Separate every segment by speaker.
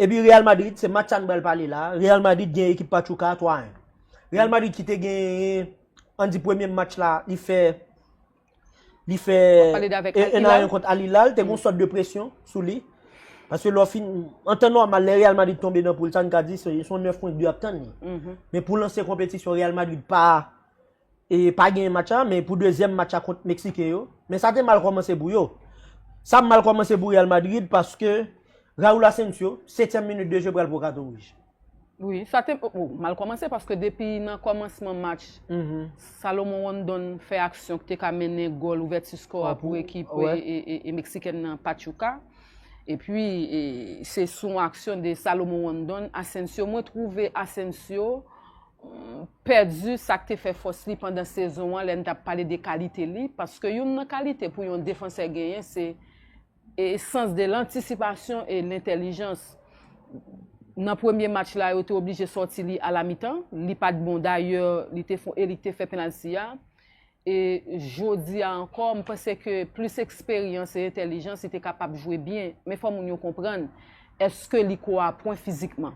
Speaker 1: Epi Real Madrid se match sa n pral pale la a, Real Madrid gen ekip Pachuca a 3 a 1. Real Madrid ki te gen an di premye match la li fè li fè 1 a 1 kont Al Hilal te gen yon sòt de presyon sou li. Paske lè w fin, an tan nòmal lè Real Madrid tonbe nan poul sa n ka di se yon 9 pwen k dwe ap tann li. Men pou lanse konpetisyon Real Madrid pa. E pa genyen match la men pou dezyèm match la kont Meksiken yo, men sa te mal kòmanse pou yo. Sa mal kòmanse pou Real Madrid paske Raul Asensio, setyèm minit de jeu pral pran katon wouj. Wi, sa te
Speaker 2: mal kòmanse paske depi nan kòmansman match, Salomon Rondon fè aksyon ki te ka mennen gòl ouvèti skò a pou ekip Meksikèn nan Pachuca. E pi se sou yon aksyon de Salomon Rondon, Asensio, mwen twouve Asensio, pèdi sa k te fè fòs li pandan sezon an lè n t ap pale de kalite li, paske youn nan kalite pou yon defansè genyen se e sans de lantisipasyon e lentèlijans. Nan premye match la yo te oblije sòti li alamitan, li pa t bon dayè li te fon eli k te fè penalti a, E jodi a ankò, m panse ke plis eksperyans e entèlijans li te kapab jwe byen. Men fò moun yo konprann, èske li ko a pwen fizikman?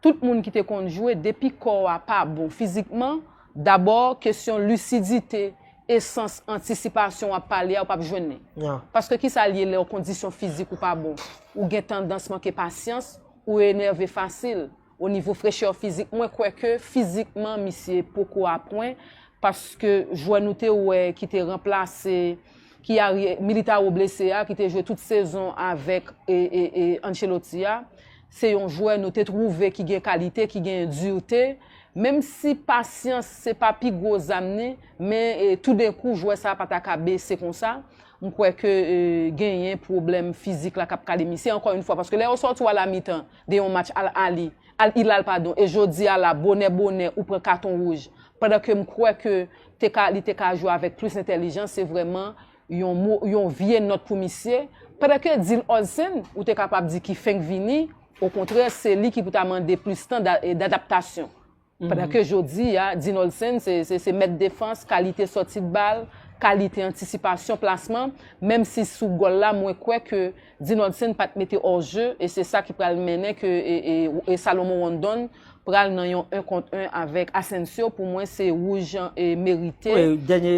Speaker 2: Tout moun ki te konn jwe, depi kò a pa bon fizikman, dabò kesyon lisidite, esans, antisipasyon w ap pale a, ou p ap jwenn li. Paske ki sa li ye lè w kondisyon fizik ou pa bon? Ou gen tandans manke pasyans, ou enève fasil. O nivo frechè fizik mwen kwè ke fizikman misye poko a pwen paske jwè nou te wè ki te ranplase ki a Militao blese a ki te jwe tout sezon avèk Ancelotti a se yon jwè nou te twouve ki gen kalite ki gen durte menm si pasyans se pa pi gwo zam ni men toudenkou jwè sa pa ta ka bese konsa m kwè ke genyen pwoblèm fizik la k ap kale misye ankò yon fwa paske lè yo soti w a la mitan. de yon match Al Ahly, Al Hilal padon e jodi a la bonè bonè ou pran katon wouj pandan ke m kwè ke te ka li te ka jwe avèk plis entèlijans se vrèman yon mo yon vye nòt pou misye pandan ke Dil Olsen ou te kapab di ki fenk vini okontrè se li ki pou ta mande plis tan da e dadaptasyon. Pandan ke jodi a, Dinolsen se mèt defans, kalite sòti de bal, kalite antisipasyon plasman, menm si sou gòl la mwen kwè ke Dinolsen pat mete hors jeu e se sa ki pral mennen ke Salomon Rondon pral nan yon 1 kont 1 avèk Asensio, pou mwen se wouj merite. Wi, dènye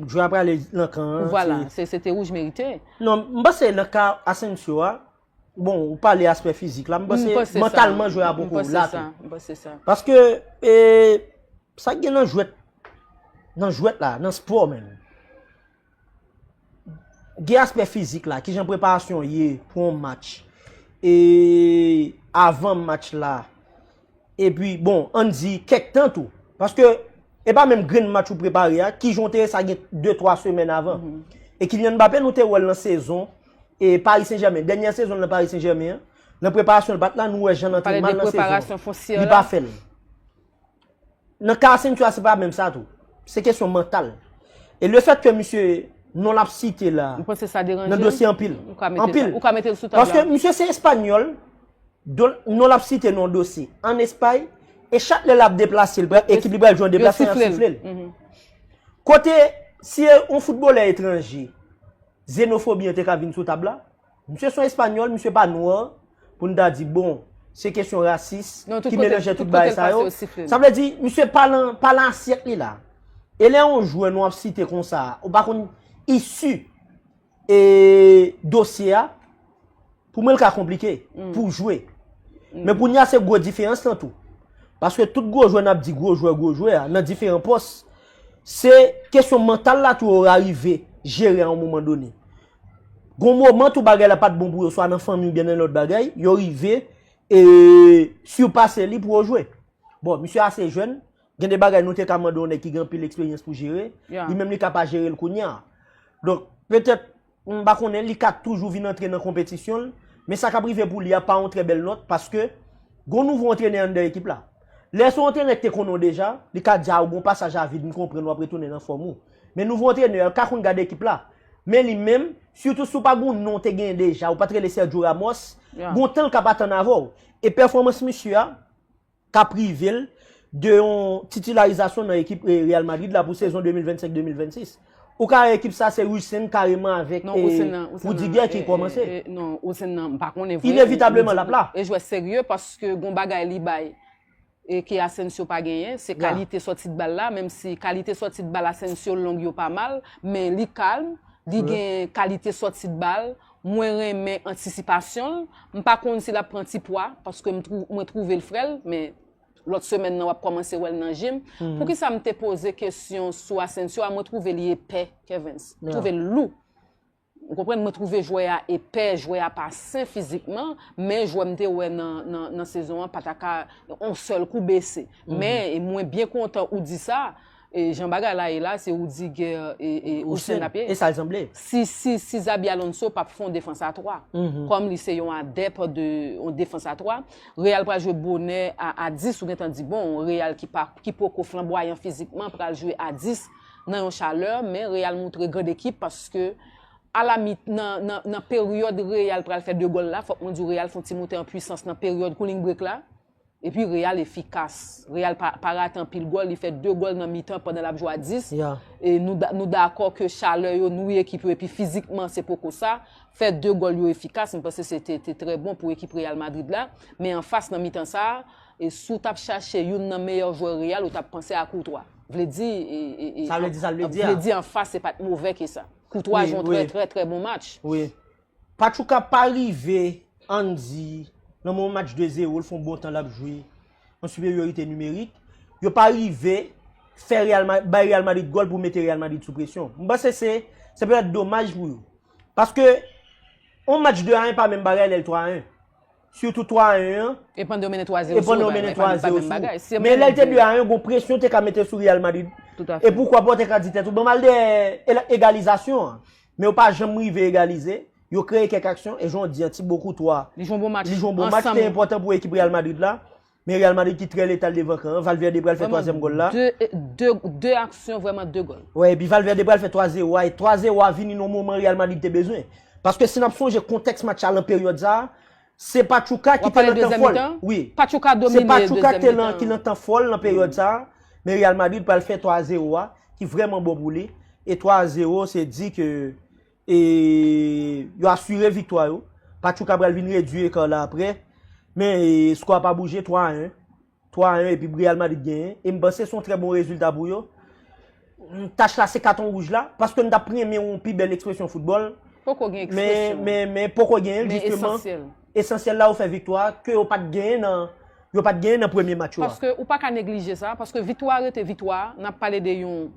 Speaker 1: jwè a prale nan kan an. Vwala, se te wouj
Speaker 2: merite. Non, m panse nan
Speaker 1: ka Asensio a, Bon, ou pale aspè fizik la, m panse mantalman jwè a poko la tou. M panse sa. Paske,
Speaker 2: e,
Speaker 1: sa gen nan jwèt, nan jwèt la, nan spò men. Gen aspè fizik la, ki jan preparasyon ye pou yon match. E, avan match la. Epi, bon, ann di kèk tan tou. Paske, e pa menm grenn match ou prepare a, ki jan w te wè sa gen 2, 3 semèn avan. E Kylian Mbappé nou te wè l nan sezon e Paris Saint Germain. Dènyè sezon l nan Paris Saint Germain an, nan preparasyon l pat la, nou wè jan l antre mal nan sezon an. Li pa
Speaker 2: fè l.
Speaker 1: Nan ka Asensio a se pa menm sa tou. Se kesyon mantal. E le fèt ke misye, non l ap site la, nan dosye
Speaker 2: anpil.
Speaker 1: Ou ka mete
Speaker 2: l sou tab la. Paske misye se espanyòl,
Speaker 1: Don non l ap site non dosye ann Espay e chak lè l ap deplase l pral ekip li pral jwe yon deplasman y ap sifle l. Kote si e yon foutbolè etranje zenofobi an te ka vin sou tab la. Misye s on espanyòl, misye pa nwa pou n ta di bon se kesyon rasis ki melanje tout bagay sa yo. Sa vle di misye pa lan pa lan asyèt li la. E lè yon jwè nou ap site konsa a ou pa konn issu. E dosye a pou mwen li ka konplike pou jwe. Men kounye a se gwo diferans lan tou. Paske tout gwo jwe nap di gwo jwe gwo jwe a nan diferan pos. Se kesyon mantal la tou yo rarive jere an mouman doni. Gon mouman tou bagay la pat bon pou yo swa nan fanmi ou byen nan lòt bagay. Yo rive e surpase li pou yo jwe. Bon misye ase jwen Gen de bagay nou te ka mande yon nèg ki gen anpil eksperyans pou jere, li menm li ka pa jere l kounye a. Donk, petèt, m pa konnen, li ka toujou vin antre nan konpetisyon l, men sa k ap rive pou li a pa yon trè bèl nòt, paske gen yon nouvo antrenè anndan ekip la. Lè se yon antrenè ki te konnen w deja, li ka di a ou gen yon pasaj a vid, m konprann w ap retounen nan fòm ou. Men nouvo antrenè a, l ka konn gade ekip la, men li menm, sitou si w pa gen yon non w te genyen deja, ou pa t rele Sergio Ramos, gen yon tan l ka pa tann avè w. E pèfòmans misye a, kap rive l de yon titilarizasyon nan ekip Real Madrid la pou sezon 2025-2026. Ou ka wè ekip sa se Hussein kareman avèk Rudiger ki kòmanse. Non, Hussein nan, m pa
Speaker 2: konnen vre. Inevitableman lap la.
Speaker 1: E jwè serye paske
Speaker 2: gon bagay li bay e ke Asensio pa genyen, se kalite sòti de bal la, menm si kalite sòti de bal Asensio long yo pa mal, men li kalm, li gen kalite sòti de bal, Mwen renmen antisipasyon l, m pa konn si lap pran ti pwa paske mwen twouve l frèl men lòt semèn nan wap kòmanse wèl nan je m, poukisa m te poze kesyon sou Asensio a mwen twouve li epè Kevens, m twouve l lou ou konprann mwen twouve jwè a epè jwè a pa sen fizikman men jwè m te wè nan sezon an pata ka on sèl kou bese men mwen byen kontan ou di sa. E jan bagay la ye la se Rudiger e Houssen lap ye. E sa l sanble.
Speaker 1: Si si si Xabi
Speaker 2: Alonso pap fè yon defans a 3. Kòm li se yon adèp de yon defans a 3. Real pral jwe bonè a a 10 ou gentan di bon Real ki pa ki poko flanbwayan fizikman pral jwe a 10 nan yon chalè men Real moutre grand ekip paske a la mi nan nan nan peryòd Real pral fè 2 gòl la fòk mwen di w Real fon ti moute an pwisans nan peryòd cooling break la. Epi Real efikas. Real pa rate anpil gòl. Li fè 2 gòl nan mitan pandan l ap jwe a 10. E nou dakò ke chalè yo nwi ekip yo epi fizikman se poko sa. Fè 2 gòl yo efikas. M panse se te trè bon pou ekip Real Madrid la. Men anfas nan mitan sa a, si w t ap chache youn nan meyè jwè Real, ou t ap panse a Courtois. Vle di,
Speaker 1: vle di anfas se pa t move
Speaker 2: ke sa. Courtois jwe yon trè trè trè bon match.
Speaker 1: Pachuca pa rive Andy nan moman match 2 zero l fon bon tan lap jwe an siperyorite nimerik, yo pa rive fè real madrid bay real madrid gòl pou mete real madrid sou presyon m panse se se petèt domaj pou yo paske on match 2 a 1 pa menm bagay lè l 3 a 1. Sitou 3 a 1 an.
Speaker 2: E pandan yo mennen 3 a 0 sou ou,
Speaker 1: e pa menm bagay. Men lè l te 2 a 1 an, gon presyon te ka mete sou Real Madrid. E poukwa pa
Speaker 2: ou te ka di tèt
Speaker 1: ou,
Speaker 2: banm
Speaker 1: al dèyè egalizasyon an. Men yo pa janm rive egalize. Yo kreye kèk aksyon, e jan w di an, Thibaut Courtois. Li jwe yon bon match. Li jwe yon bon
Speaker 2: match, te
Speaker 1: enpòtan pou ekip Real Madrid la. Men Real Madrid ki trè letal devan kan an. Valverde pral fè twazyèm gòl la. Vreman, 2
Speaker 2: aksyon vreman 2 gòl. Wè, epi Valverde pral fè
Speaker 1: 3 zewo a. E 3 zewo a vini nan moman Real Madrid te bezwen. Paske si n ap sonje kontèks match la lan peryòd sa a, se Pachuca ki te lan tan fò l. Wi, se Pachuca
Speaker 2: ki te
Speaker 1: lan
Speaker 2: ki
Speaker 1: lan tan fò l lan peryòd sa a. Men Real Madrid pral fè 3 zewo a, ki vreman bon pou li. E 3 zewo se di ke e yo asire viktwa yo. Pachuca pral vin redwi ekar la apre. Men sko a pa bouje 3 a 1. 3 a 1 epi Real Madrid genyen. E m panse son trè bon rezilta pou yo. Tach la se katon wouj la. Paske m tap renmen yon pi bèl ekspresyon foutbòl. Poko gen ekspresyon.
Speaker 2: Men poko gen l
Speaker 1: jisteman. Men esansyèl. Esansyèl la ou fè viktwa a ke yo pat genyen nan yo pat genyen nan premye match yo a. Paske ou pa ka neglije
Speaker 2: sa, paske viktwa a rete viktwa a, nap pale de yon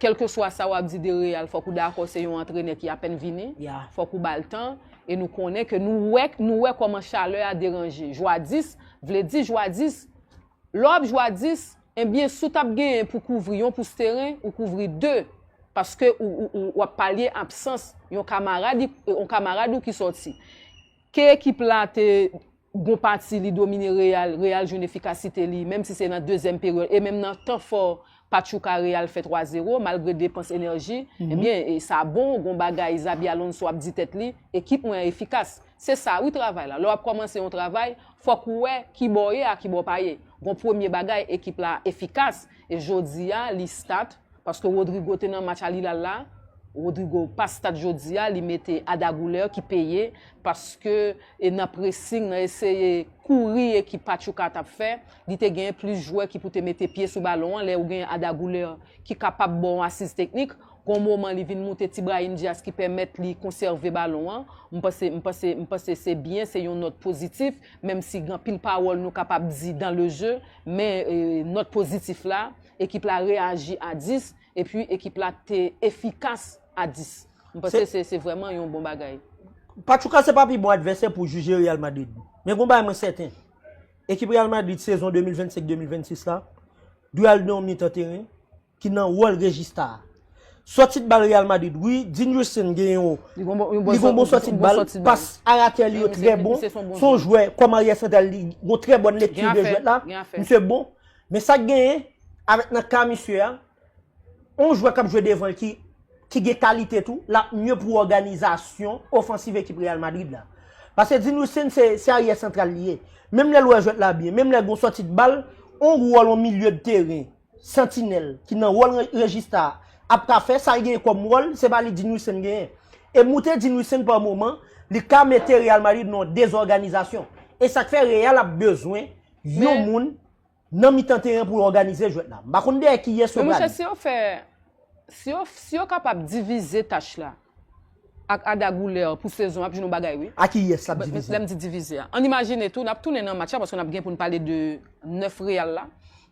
Speaker 2: kèlkeswa sa wap di de Real fòk ou dakò se yon antrenè ki apèn vini, fòk ou bal tan e nou konnen ke nou wè nou wè kòman chalè a deranje jwa 10, vle di jwa 10 lè wap jwa 10. Ebyen si w tap genyen pou kouvri yon pous teren ou kouvri 2 paske ou ap palye absans yon kamarad ou ki sòti. Ke ekip la te bon pati li domine Real, Real jwenn efikasite li menm si se nan dezyèm peryòd e menm nan tan fò Pachuca Real fè 3 zero malgre depans enèji ebyen sa bon gon bagay Xabi Alonso ap di tèt li ekip mwen an efikas se sa wi travay la lè w ap kòmanse yon travay Fòk ou wè kibò w ye a kibò w pa ye. Gon premye bagay ekip la efikas e jodi a li start paske Rodrygo te nan match Al Hilal la, Rodrygo pa start jodi a li mete Ada Guler ki peye paske e nan pressing nan eseye kouri ekip Pachuca t ap fè li te genyen plis jwè ki pou te mete pye sou balon an lè ou genyen Ada Guler ki kapab ba w asiz teknik Gon moman li vin moute ti Brahim Diaz ki pèmèt li konsève balon an. M panse m panse m panse se byen, se yon nòt pozitif, menm si gen anpil pawòl nou kapab di dan le je, men nòt pozitif la, ekip la reyaji a 10, epi ekip la te efikas a 10. M panse se se vrèman yon bon bagay. Pachuca se
Speaker 1: pa pi bon advèsè pou jije Real Madrid. Men gon bagay mwen sèten, ekip Real Madrid sezon 2025-2026 la dwe al nan yon mitan teren, ki nan wòl Regista a. Sòti bal Real Madrid wi, Dinrison gen yon Li gon bon, li gon bon sòti bal, bon sòti bal. pas aratè li yo trè bon, Misye son bon son jwè. jwè kòm aryè santral li gon trè bòn lekti Gen de afè, jwèt la, gen afè. misye bon. Men sa k genyen, avèk nan ka misye a, yon jwè k ap jwe devan l ki ki gen kalite tou, l ap mye pou òganizasyon ofansiv ekip Real Madrid la. Pase Dinrison se se aryè santral li ye. Menm lè l wè jwèt la byen, menm lè gon sòti bal, yon wòl yon milye de teren. Santinèl ki nan wòl rejista a ap ka fè, sa l genyen kòm wòl, se pa li Dinwissen genyen. E moute Dinwissen pa moman, li ka mete Real Madrid nan yon dezòganizasyon. E sa k fè Real ap bezwen yon moun nan mitan teren pou òganize jwèt la. M pa konn dèyè kiyès yo prale. Men mouche si yo fè
Speaker 2: Si yo kapab divize tach la ak Arda Guler pou sezon an ap jwenn yon bagay wi. A ki yès lap divize? Lèm
Speaker 1: di divize a. Ann
Speaker 2: imajine tou nap tounen nan match la paske nap gen poun pale de 9 Real la.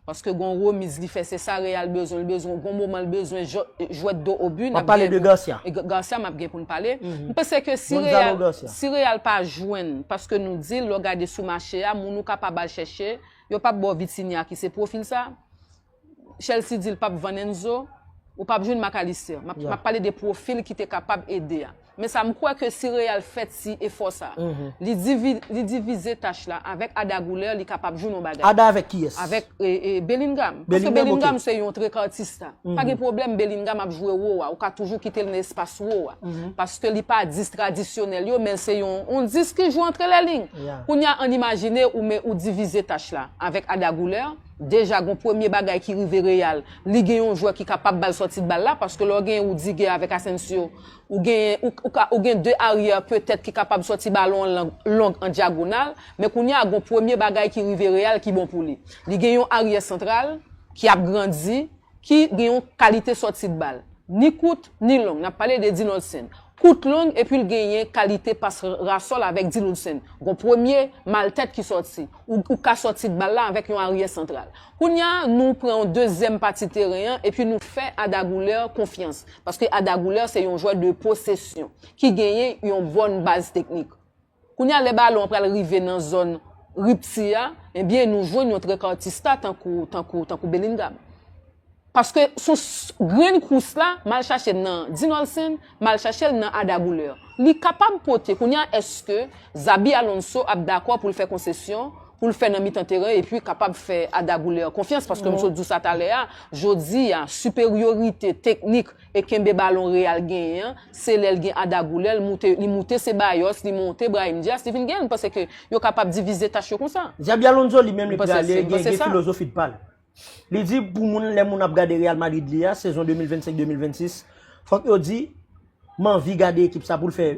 Speaker 2: Paske gon remiz li fè se sa Real bezwen li bezwen gon moman li bezwen jwè do o bu. Wap pale de Garcia?
Speaker 1: Garcia map gen poun
Speaker 2: pale. M panse ke si Real si Real pa jwenn paske nou dil lè w gade sou mache a moun ou kapab al chèche yo pap baw Vitinha ki se pwofil sa. Chelsea di l pap vann Enzo, ou pap jwenn Mac Allister. M ap pale de pwofil ki te kapab ede a. Men sa m kwè ke si Real fè ti efò sa, li divize tach la avèk Arda Guler li kapab jwenn yon bagay. Arda avèk kiyès? Avèk
Speaker 1: Bellingham.
Speaker 2: Paske Bellingham se yon trekartista. Pa gen pwoblèm Bellingham ap jwe wo a, ou ka toujou kite l nan espas wo a. Paske li pa 10 tradisyonèl yo men l se yon 10 ki jwe antre lè lign. Kounya an imajine ou divize tach la avèk Arda Guler. Deja gon premye bagay ki rive Real, li gen yon jwè ki kapab bal sòti bal la paske lè w gen Rudiger avèk Asensio, ou genyen ou ka ou gen 2 aryè petèt ki kapab sòti balon an lang long an dyagonal, men kounya a gon premye bagay ki rive Real ki bon pou li. Li gen yon aryè santral ki ap grandi, ki gen yon kalite sòti de bal, ni kout, ni long, nap pale de Dean Hudson, kout long epi l genyen kalite pas rasòl avèk Dean Hudson, gon premye mal tèt ki sòti, ou ka sòti de bal la avèk yon aryè santral. Kounya nou pran yon dezyèm pati teren an epi nou fè Arda Guler konfyans, paske Arda Guler se yon jwè de posesyon, ki genyen yon bòn baz teknik. Kounye a lè balon an pral rive nan zòn ripti a, ebyen nou jwenn yon trekartista tankou Bellingham. Paske sou grenn kous la, m al chache l nan Dinolsen, m al chache l nan Arda Guler. Li kapab pote, kounye a èske Xabi Alonso ap dakò pou l fè konsesyon pou l fè nan mitan teren epi kapab fè Arda Guler konfyans paske m sot di w sa talè a, jodi a siperyorite teknik E kenbe balon Real genyen an, se lè l gen Arda Güler, l moute, li moute Ceballos, li monte Brahim Diaz, li vin gen l, m panse ke yo kapab divize tach yo konsa. Xabi Alonso li menm li
Speaker 1: prale gen gen filozofi pa l. Li di pou moun lè moun ap gade Real Madrid li a, sezon 2025, 2026, fòk yo di m anvi gade ekip sa pou l fè,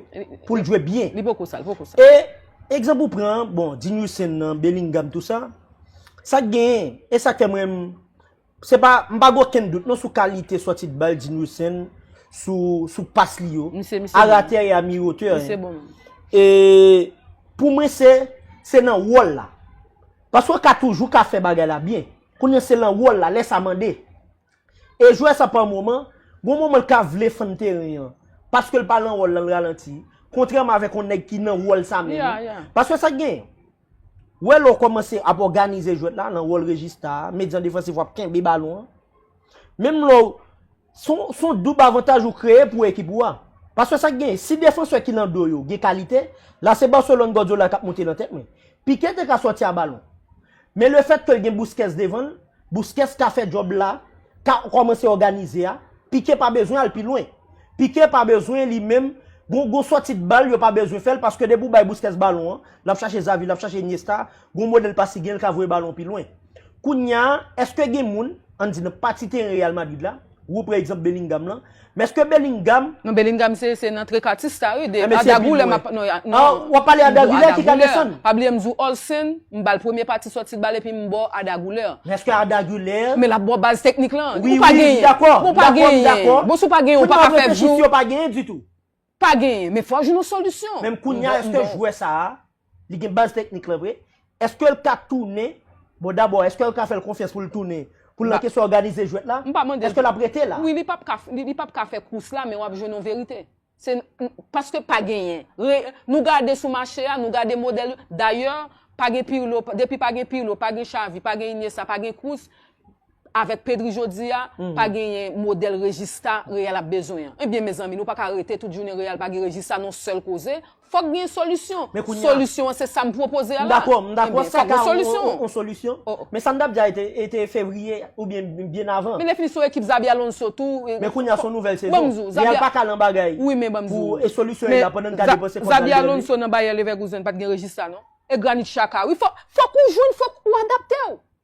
Speaker 1: pou l jwe byen. Li poko sa, li poko sa. E
Speaker 2: egzanp
Speaker 1: ou pran an, bon, Dinwissen nan, Bellingham, tou sa, sa k genyen, e sa k fè m renmn. Se pa, m pa gen okenn dout non sou kalite sòti dbal Dinwissen sou pas li yo. Misye, misye bon. A ratè e a mi-otè. Misye bon moun.
Speaker 2: E,
Speaker 1: pou mwen se, se nan wòl la. Paske w ka toujou ka fè bagay la byen. Kounye a se lan wòl la, lè sa mande. E jwè sa pa moman, gon moman l ka vle fann teren an. Paske l pa lan wòl la, l ralanti. Kontrèman avèk yon nèg ki nan wòl sa menm. Ya, ya. Paske sa k gen? Welo kòmanse ap òganize jwèt la nan wòl rejista, medyan defansif wap kenbe balon an. Menm lè w, se yon doub avantaj ou kreye pou ekip ou a. Paske sa k genyen, si defansè ki nan do yo gen kalite, la se Barcelone Guardiola kap monte nan tèt mwen. Piqué te ka sòti a balon. Men lefètke l gen Busquets devan l, Busquets ka fè djòb la, ka kòmanse òganize a, Piqué pa bezwen al pi lwen. Piqué pa bezwen li menm, gon gon sòti de bal yo pa bezwen fè l paske depi ou bay Busquets balon an, l ap chache Xavi, l ap chache Iniesta, gon modèl pas li gen, l ka voye balon pi lwen. Kounya, èske gen moun, ann di nan pati teren Real Madrid la, Wou pre egzanp Bellingham lan. Men eske Bellingham. Non Bellingham se se
Speaker 2: nan Trecatista wi. Emen se pi lwen. Ou ap
Speaker 1: pale Ada Guler ki ka desann. Pa bliye m di w Olsen,
Speaker 2: m ba l premye pati soti bal epi m ba w Ada Guler. Men eske Ada
Speaker 1: Guler. Men l ap ba w baz teknik
Speaker 2: lan. Wi wi m dakò.
Speaker 1: Bon ou pa genyen.
Speaker 2: Bon si w pa genyen ou pa ka fè. Kounye w ap reflechi si yo pa genyen ditou.
Speaker 1: Pa genyen, men
Speaker 2: fò jwenn yon solisyon. Menm kounya eske
Speaker 1: jwè sa a, li gen baz teknik lan vre? Eske l ka tounen? Bon dabò eske yo ka fè l konfyans pou l tounen? Pou l nan kesyon òganize jwèt la? M pa mande l. Eske l ap rete la? Wi li pap ka, li pap
Speaker 2: ka fè kous la men wap jwenn yon verite. Se, paske pa genyen. Re, nou gade sou mache a, nou gade modèl yo, dayè pa gen Pirlo, depi pa gen Pirlo, pa gen Xavi, pa gen Iniesta, pa gen Kroos, Avèk Pedri jodia pa genyen modèl Regista Real ap bezwen an. Ebyen mezanmi nou pa ka rete tout jounen Real pa gen Regista non sèl koze. Fòk gen solisyon. Solisyon an se sa m pwopoze a la. M dakò sa ka yon
Speaker 1: solisyon. Men sa m tap di a e te fevriye oubyen byen avan. Men lèfini sou ekip Xabi
Speaker 2: Alonso tou. Men kounya son nouvèl
Speaker 1: sezon. Real pa ka lan bagay. Wi men banm di w. E
Speaker 2: solisyon yo la pandan n
Speaker 1: ka depanse kòb nan Xabi Alonso nan Bayer
Speaker 2: Leverkusen pat gen Regista non. E Granit Xhaka wi fòk ou jwenn fòk ou adapte w.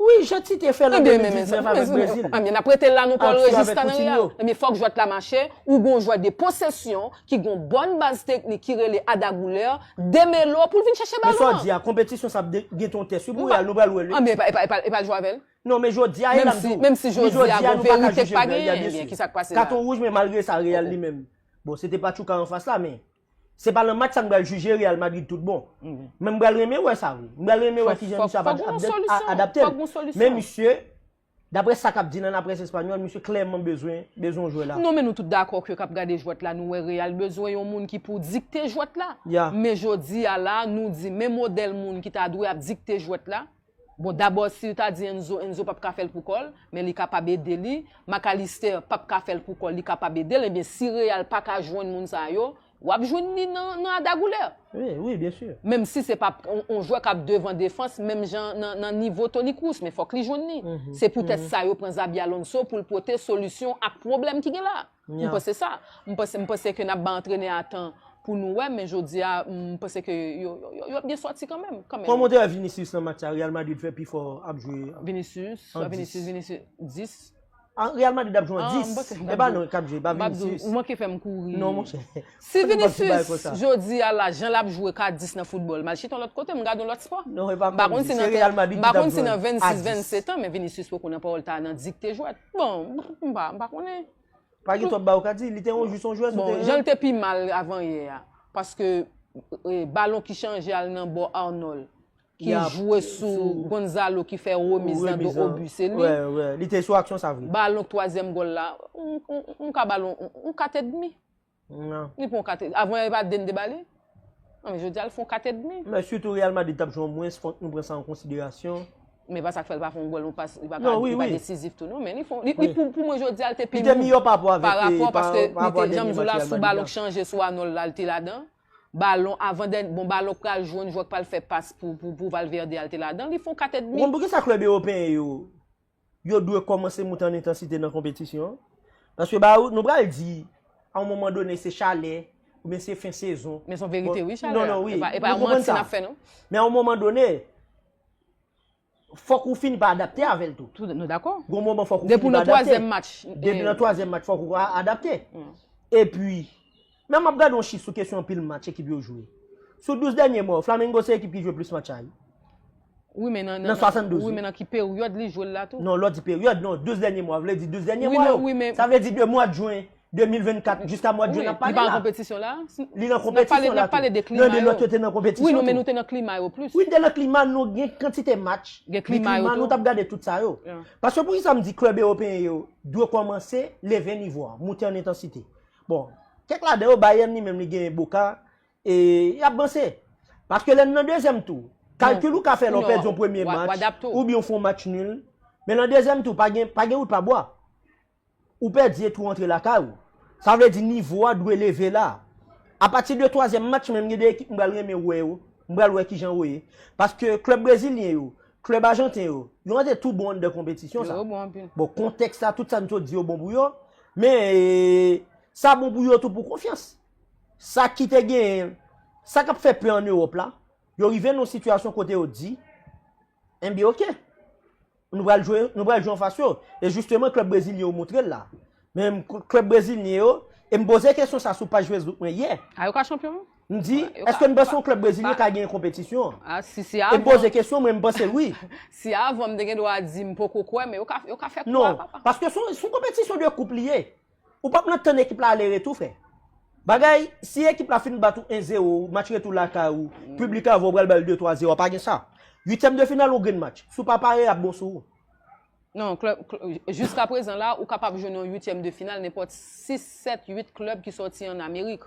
Speaker 2: Wi je ti te fel
Speaker 1: an 2019 avek Brezil. Ebyen nap rete la nou
Speaker 2: Paul Regis Canaria. Ebyen fok jwet la mache ou gon jwè de posesyon ki gon bon baz teknik ki rele Ada Goulert demelo poul vin chache balon an. Men sa w di a konpetisyon sa ap
Speaker 1: gen ton tès wi pou real nou pral wè l wi. Ebyen epal
Speaker 2: jwe avèl. Non men jodi a e lap
Speaker 1: di w. Menm si jodi
Speaker 2: a nou paka jije Real ya byen si. Katon wouj men malgre sa Real
Speaker 1: li menm bon se te Pachuca anfas la men. Se pa nan match sa m pral jije Real Madrid tout bon. Men m pral renmen wè sa vre. M pral renmen wè kijan misye ap adapte l. Men misye, dapre sa k ap di nan laprès espanyòl, misye klèman bezwen yon jwè la. Non men nou tout dakò ke k
Speaker 2: ap gade jwèt la nou wè Real bezwen yon moun ki pou dikte jwèt la. Men jodi a la nou di men modèl moun ki ta dwe ap dikte jwèt la. Bon dabò sil ta di Enzo Enzo pap ka fèl pou kòl men li kapab ede li Mac Allister pap ka fèl pou kòl li kapab edel ebyen si Real paka jwenn moun sa yo wap jwenn li nan nan Ada Guler
Speaker 1: menm si se pa
Speaker 2: on jwè kap devan defans menm jan nan nivo Toni Kroos men fòk li jwenn li se poutèt sa yo pran Xabi Alonso poul pote solisyon ak pwoblèm ki gen la a. M panse sa, m panse ke nap bay antrenè a tan pou nou wè men jodi a m panse ke yo ap gen sòti kanmenm. Kòmantè Vinicius
Speaker 1: nan match sa Real Madrid fè pifò ap jwe an 10. Vinicius, Vinicius,
Speaker 2: Vinicius, 10? An Real
Speaker 1: Madrid ap jwe an 10. E pa non kap jwe, e pa Vinicius. Ou manke fèm kouri.
Speaker 2: Non monchè. Si
Speaker 1: Vinicius
Speaker 2: jodi a la jan lap jwe ka 10 nan foutbòl, m al chita yon lòt kote, m gad yon lòt spò. M pa konn si nan 26, 27 an men Vinicius poko nan Porta nan dikte jwèt. Bon, m pa, m pa konnen. Pa gen twòp bagay
Speaker 1: ou ka di, li te yon jis yon jwèz ou te. Bon, jan l te pi mal
Speaker 2: avan yè a, paske balon ki chanje al nan bò Arnold, ki jwe sou Gonzalo ki fè remiz nan do Obi, se li. Wè, wè, li te sou aksyon
Speaker 1: sa vre. Balon twazyèm gòl la,
Speaker 2: m ka ba l yon kat edmi. Nan. Li pran
Speaker 1: yon 4 et avan
Speaker 2: yon e pa 2 n te ba li? Nan men jodi a l fè yon 4 et demi. Men sitou Real Madrid t ap
Speaker 1: jwe an mwens fòk nou pran sa an konsiderasyon. Men pa sa k fè l pa
Speaker 2: fè yon gòl, yon pas, li pa ka, li pa desizif tou
Speaker 1: non men li fè
Speaker 2: yon, li pou pou mwen jodi a l te pi mou. Li te miyò pa rapò avèk, pa
Speaker 1: rapò avèk, pa rapò avèk, pa rapò avèk dènye match Real Madrid la. Jan
Speaker 2: m di w la sou balon k chanje sou Arnold la l te ladan. Balon avan dènye, bon balon k pral jwenn jwè k pral fè pas pou Valverde a l te ladan. Li fè yon 4 et demi. Ou konn poukisa klèb ewopeyen
Speaker 1: yo Yo dwe kòmanse moute an entansite nan konpetisyon an. Paske ba ou, nou pral di, a yon moman done se chalè, ou byen se fen sezon. Men son verite wi chalè
Speaker 2: a. E pa yon manti
Speaker 1: nap fè non.
Speaker 2: Men a yon moman done,
Speaker 1: fòk ou fini pa adapte avèl tou. Nou dakò. Gon moman
Speaker 2: fòk ou fini pa adapte.
Speaker 1: Depi nan twazyèm match.
Speaker 2: Depi nan twazyèm match
Speaker 1: fòk ou adapte. E pi. Nan map gade yon chif sou kesyon anpil match ekip yo jwe. Sou 12 dènye mwa yo, Flamengo se ekip ki jwe plis match ay. Wi
Speaker 2: men nan 72 wi. Nan
Speaker 1: ki peryòd
Speaker 2: li jwe l la tou. Non lè w di peryòd non 12
Speaker 1: dènye mwa vle di 12 dènye mwa yo. Sa vle di de
Speaker 2: mwad jwen 2024
Speaker 1: jiska mwad jwen nap pale la. Li pa nan konpetisyon la.
Speaker 2: Li nan konpetisyon
Speaker 1: la tou. Nan de lòt yo te
Speaker 2: nan konpetisyon
Speaker 1: tou.
Speaker 2: Wi
Speaker 1: non men nou te nan klima yo
Speaker 2: plis. Wi nou te nan klima nou gen
Speaker 1: kantite match. Gen klima yo tou. Gen klima nou tap
Speaker 2: gade tout sa
Speaker 1: yo. Paske poukisa m di klèb ewopeyen yo dwe kòmanse leve nivo a, moute an entansite. Bon, kèk ladan yo Bayern li menm li genyen Boca e y ap vanse. Paske lè n nan dezyèm tou, kalkil ou ka fè lè w pèdi yon premye match oubyen w fè yon match nul, men nan dezyèm tou pa gen pa gen wout pa bwa. Ou pèdi epi w rantre lakay ou. Sa vle di nivo a dwe leve la. Apati de twazyèm match menm gen de ekip m pral renmen wè yo, m pral wè kijan yo ye. Paske klèb brezilyen yo, Klèb ajanten yo, yo antre tou bon anndan konpetisyon sa. Bon, kontèks la, tout sa n sot di yo bon pou yo, men, sa bon pou yo tou pou konfyans. Sa ki te gen, sa k ap fè pè an Ewòp la, yo rive nan yon sitiyasyon kote yo di, enben ok, nou pral jwe, nou pral jwe anfas yo. E jisteman klèb brezilyen yo montre l la. Men klub brezilyen yo, e m poze kesyon sa sou paj Facebook mwen yè. A yo ka chanpyon?
Speaker 2: M di, eske
Speaker 1: m panse yon klub brezilyen ka genyen konpetisyon an? A si se avan. E m
Speaker 2: poze kesyon mwen, m
Speaker 1: panse l wi. Si avan m te
Speaker 2: gen dwa di m poko kwè men yo ka yo ka fè kou a papa. Non, paske son son
Speaker 1: konpetisyon de koup li ye. Ou pap nan tann ekip la ale retou frè. Bagay, si ekip la fin bat ou 1 zero, match retou lakay ou, piblik avan ou pral ba l 2, 3 zero, pa gen sa. Uityèm de final ou gen match. Si w pa pare yap bon sou ou. Nan klèb,
Speaker 2: jiska prezan la, ou kapab jwenn yon uityèm de final nenpòt 6, 7, 8 klèb ki sòti an Amerik.